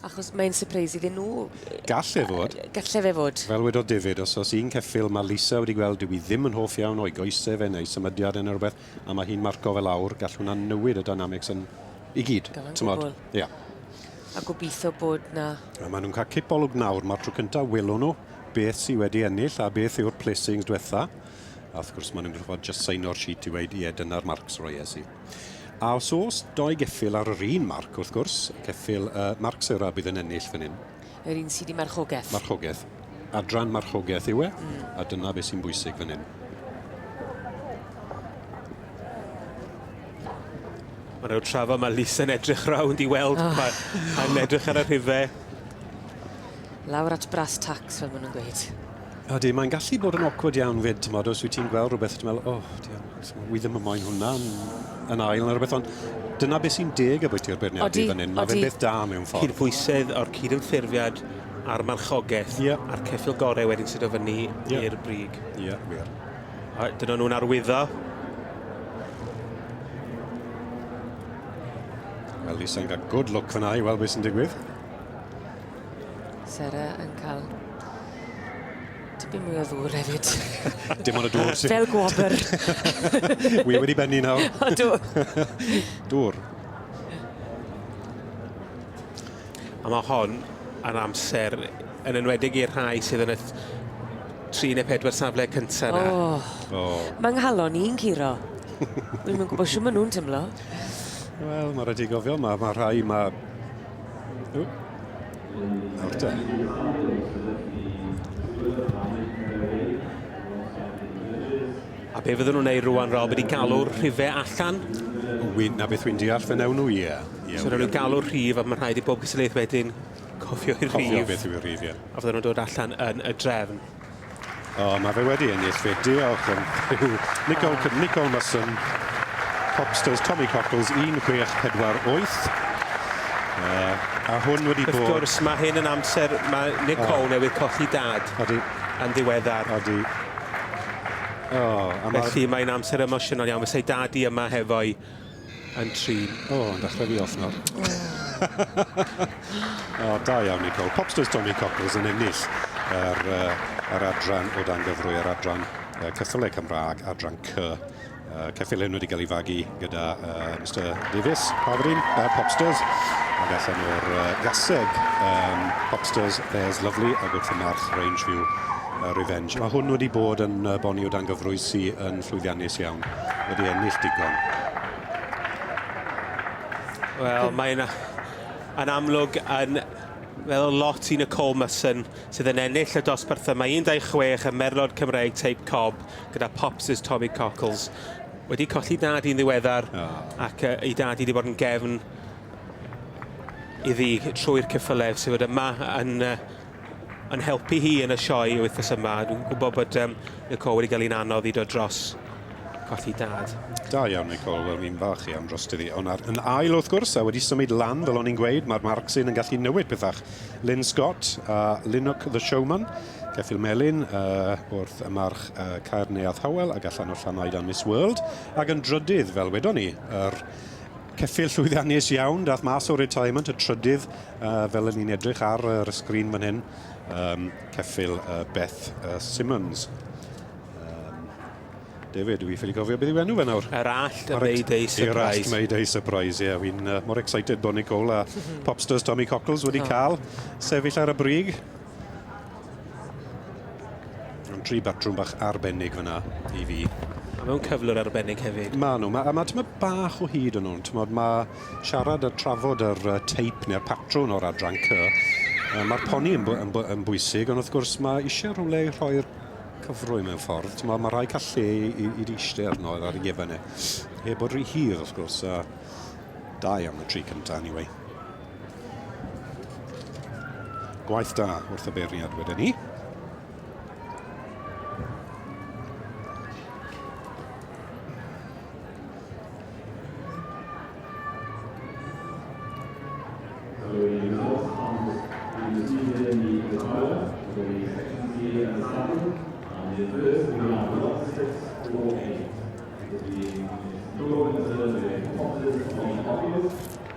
Achos mae'n surprise iddyn nhw. Gall e fod. Gall e fod. Fel wedodd David, os oes un ceffyl mae Lisa wedi gweld dyw hi ddim yn hoff iawn o'i goesau fe neu symudiad e neu rhywbeth a mae hi'n marco fe lawr, gall hwnna newid y dynamics yn i gyd. Gallan gwbl. Ia. A gobeithio bod na... A maen nhw'n cael cipolwg nawr, mae'r tro cyntaf welwn nhw beth sydd wedi ennill a beth yw'r placings diwetha. A wrth gwrs, mae'n unrhyw ffordd just saino'r sheet i weud, ie, dyna'r marcs roies i. A os oes doi geffyl ar yr un marc, wrth gwrs, y ceffyl uh, marc sera bydd yn ennill fan hyn. Yr un sydd i marchogaeth. Marchogaeth. Adran marchogaeth yw e, mm. a dyna beth sy'n bwysig fan hyn. Mae rhyw trafa, mae Lisa yn edrych rawnd i weld oh. pa, pa'n edrych ar y rhifau. Lawr at brass tax, fel maen nhw'n gweud. Ydy, mae'n gallu bod yn awkward iawn fyd, ti'n modd, os wyt ti'n gweld rhywbeth, ti'n meddwl, oh, dian, wi ddim yn moyn hwnna yn, yn ail neu rhywbeth, ond dyna beth sy'n deg y bwyty'r beirniadu fan hyn. Mae fe'n beth da mewn ffordd. Cydbwysedd o'r cydymffurfiad a'r marchogaeth yeah. a'r ceffil gorau wedyn sydd o fyny yeah. i'r brig. Ie, yeah, wir. A dyna nhw'n arwyddo. Wel, Lisa'n cael good look fyna i weld beth sy'n digwydd. Sarah yn cael tipyn mwy o ddŵr hefyd. Dim ond y dŵr sy'n... Fel gwobr. Wi wedi benni nawr. O, dŵr. dŵr. A mae hon yn amser yn enwedig i'r rhai sydd yn y tri neu pedwar safle cyntaf na. Oh. oh. Mae nghalon i'n curo. Dwi'n mynd gwybod siw maen nhw'n tymlo. Wel, mae rhaid i gofio, mae, mae rhai, mae Nawr te. A be fydden nhw'n neud rwan, Rob? Ydi galw'r rhife allan? Wyn, na beth wy'n deall, fe newn nhw, ie. Yeah. Yeah, so, nhw'n galw'r rhif, a mae'n rhaid i bob cystadlaeth wedyn cofio i'r rhif. Cofio beth yw'r rhif, ie. Yeah. A fydden nhw'n dod allan yn y drefn. O, oh, mae fe wedi ennill fe. Diolch yn fyw. Nicol, oh. Nicol Musson, Hopsters, Tommy Cockles, 1648. Uh, a hwn wedi bod... Wrth gwrs, mae hyn yn amser, mae Nicol oh. newydd colli dad. Odi. Yn ddiweddar. Odi. Oh, Felly mae'n amser emosiynol iawn. Fysau dad i yma hefo'i yn trin... O, oh, yn dechrau fi off nawr. O, oh. oh, da iawn Nicole. Popsters Tommy Cockles yn ennill yr, uh, yr adran o dan gyfrwy, yr adran uh, ceffylau Cymraeg, adran C. Uh, ceffylau hyn wedi cael ei fagu gyda uh, Mr Davies, Pafrin, uh, Popsters, ac allan o'r uh, gaseg um, Popsters, There's Lovely, a gwrth y march Range View uh, Revenge. Mae hwn wedi bod yn uh, boni o dan gyfrwy sy'n llwyddiannus iawn. wedi ennill digon. Wel, mae'n yn amlwg yn fel lot i Nicole Musson sydd yn ennill y dosbarth yma. 1-26 y merlod Cymreig teip cob gyda Pops' Tommy Cockles. Wedi colli dad i'n ddiweddar oh. ac uh, ei dad i wedi bod yn gefn iddi trwy'r cyffylef sydd wedi yma yn uh, yn helpu hi yn y sioe wythnos yma. Dwi'n gwybod bod um, Nicole wedi cael un anodd i dod dros colli dad. Da iawn, Nicole. Wel, fi'n falch iawn dros ti. Ond ar, yn ail, wrth gwrs, a wedi symud lan, fel o'n i'n gweud, mae'r Marxin yn gallu newid pethach. Lynn Scott a Linnock the Showman, Ceffil Melin, uh, wrth y march uh, Caer Neuadd Howell, ac allan o Llanoed a Miss World, ac yn drydydd, fel wedon ni, yr er Ceffyl llwyddiannus iawn, dath mas o retirement y trydydd, uh, fel yn ni'n edrych ar yr sgrin fan hyn, um, ceffyl uh, Beth uh, Simmons. David, dwi ffili gofio beth yw enw fe nawr. Yr allt y Mayday Surprise. Yr allt Mayday Surprise, ie. Yeah. Fi'n uh, mor excited bod Nicole a Popsters Tommy Cockles wedi oh. cael sefyll ar y brig. Yn tri batrwm bach arbennig fyna i fi. A mewn cyflwr arbennig hefyd. Ma nhw, ma, a mae tyma bach o hyd yn nhw'n, tymod, mae siarad a trafod yr uh, teip neu'r patrwn o'r adran cy, uh, mae'r poni yn, yn, yn, bwysig, ond wrth gwrs mae eisiau rhywle i rhoi'r cyfrwy mewn ffordd, tymod, mae rhai cael lle i, i, i eistedd arno ar y gefn e. Heb bod rhy hir, wrth gwrs, a dau am y tri cyntaf, anyway. Gwaith da wrth y beiriad wedyn ni.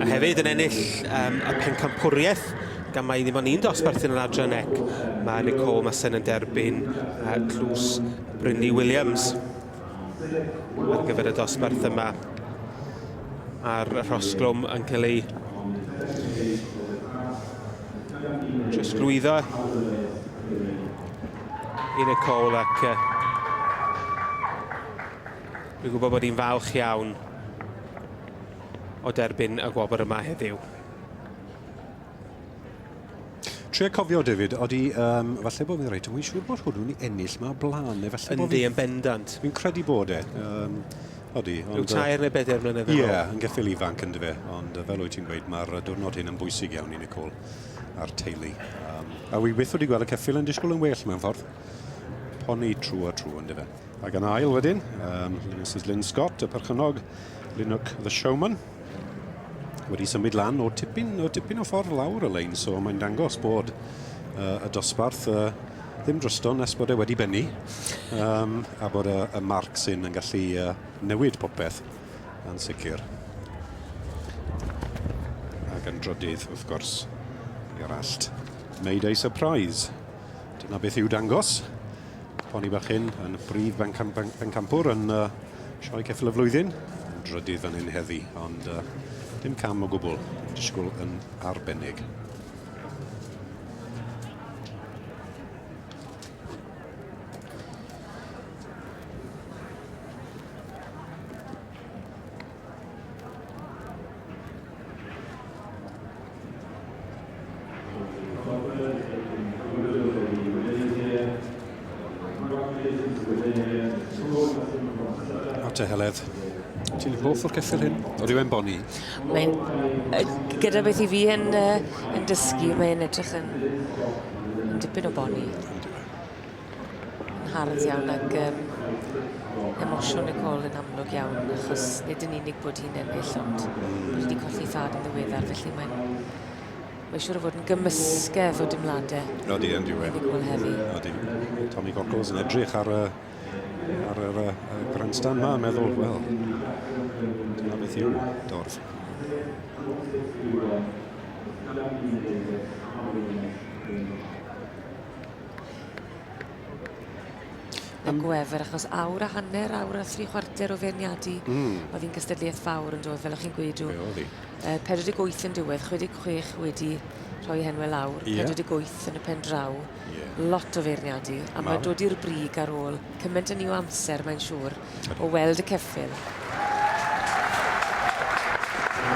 A hefyd yn ennill um, y pencampwriaeth gan mai ddim ond un dosbarthu yn yr adran ec. Mae Nicole Masen yn derbyn uh, tlws Brynley Williams ar gyfer y dosbarth yma. A'r rhosglwm yn cael ei trosglwyddo i Nicole ac uh, Dwi'n gwybod bod hi'n falch iawn o derbyn y gwobr yma heddiw. Tria cofio, David, odi, um, falle bod fi'n reit, dwi'n siŵr bod hwnnw'n i ennill mae o blaen, neu falle bod fi... Yndi, yn bendant. Fi'n credu bod e. Um, Odi, ond... Rhyw tair neu bedair mlynedd yn ôl. Ie, yn geffil ifanc yn dyfe, ond fel wyt ti'n gweud, mae'r diwrnod hyn yn bwysig iawn i Nicole a'r teulu. Um, a wi byth wedi gweld y ceffil yn disgwyl yn well mewn ffordd. Poni trwy a trwy yn dyfe. Ac yn ail wedyn, um, Mrs Lynn Scott, y perchynog Linwc The Showman, wedi symud lan o tipyn o, tipyn o ffordd lawr y lein, so mae'n dangos bod uh, y dosbarth uh, ddim drosto nes bod e wedi bennu um, a bod y, y marc sy'n yn gallu uh, newid popeth yn sicr. Ac yn drodydd, wrth gwrs, i'r allt. Mayday surprise. Dyna beth i'w dangos. Poni bach hyn yn y brif bencampwr yn uh, sioe ceffil y flwyddyn. Yn drydydd fan hyn heddi, ond uh, dim cam o gwbl. Disgwyl yn arbennig. Arte Heledd. Ti'n hoff o'r ceffyl hyn? O rhywun boni? Mae'n... Gyda beth i fi yn, uh, yn dysgu, mae'n edrych yn, yn dipyn o boni. Hardd iawn ac yym emosiwn Nicole yn amlwg iawn achos nid yn unig bod hi'n ennill ond bod hi 'di colli thad yn ddiweddar felly mae'n mae'n siŵr o fod yn gymysgedd o dimlade. Odi yn diwedd. Nicole heddi. Odi. Tommy Cockles yn edrych ar y ar yr uh, grandstand ma yn meddwl, wel, dyna beth yw dorf. Y gwefr, achos awr a hanner, awr a thri chwarter o feirniadu. Mm. Oedd hi'n gystadleuaeth fawr yn dod, fel o'ch chi'n gweud. Be oedd hi? Uh, 48 yn diwedd, 66 wedi rhoi henwe lawr, yeah. 48 yn y pen draw. Yeah. Lot o feirniadu, a mae dod i'r brig ar ôl cymaint yn ni o amser, mae'n siŵr. o weld y ceffyl.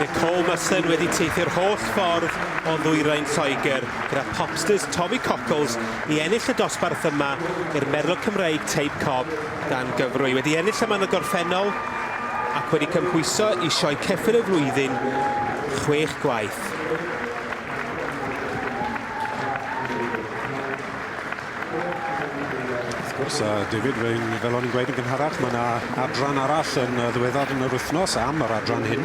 Nicole Musson wedi teithio'r holl ffordd o ddwyrain Lloegr gyda popsters Tommy Cockles i ennill y dosbarth yma i'r Merlot Cymreig Tape Cob dan gyfrwy. Wedi ennill yma yn y gorffennol ac wedi cymhwyso i Sioe Ceffyl y Flwyddyn chwech gwaith. Wrth gwrs, a David, rwy'n fel o'n i'n gweud yn gynharach, mae yna adran arall yn ddiweddar yn yr wythnos am yr adran hyn.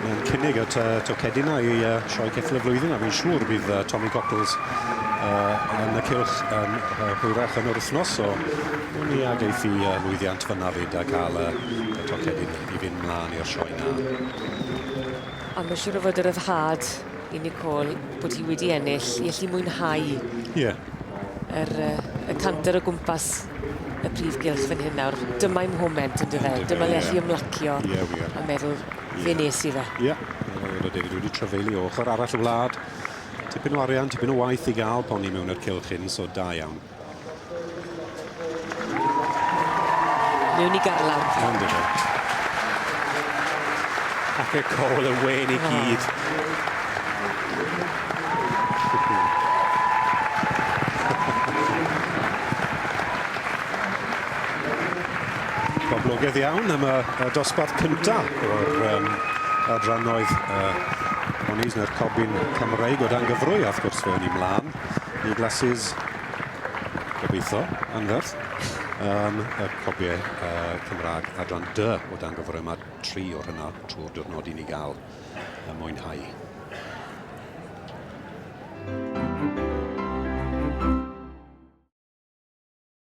Mae'n cynnig at uh, Tocedina i uh, sioe ceffil y flwyddyn, a fi'n siŵr bydd uh, Tommy Cockles uh, yn y cilch yn uh, hwyrach yn yr wythnos, so dwi'n ni ag eithi uh, lwyddiant fyna fyd a cael uh, y Tocedin i fynd mlaen i'r sioe na. A mae'n siŵr o fod y ryddhad i Nicole bod hi wedi ennill, i allu mwynhau yeah. yr, y canter o gwmpas y prif gylch fan hyn nawr. Dyma'i moment yn dyfe, dyma le allu ymlacio a meddwl fe nes i fe. Ie, fel o David wedi trafeilu o ochr arall y wlad. Tipyn o arian, tipyn o waith i gael poni mewn i'r cylch hyn, so da iawn. Mewn i garlawr. Iawn dyn nhw. Ac y col y wen i gyd. Boblogaidd iawn am y, y dosbarth cyntaf o'r um, adrannoedd uh, Monies neu'r cobyn Cymreig o dan gyfrwy, a wrth gwrs fe o'n i mlaen. New glasses. Gobeitho, anferth. Um, y copiau uh, Cymraeg adran dy o dan gyfrau yma, tri o'r hynna trwy'r diwrnod i ni gael uh, mwynhau.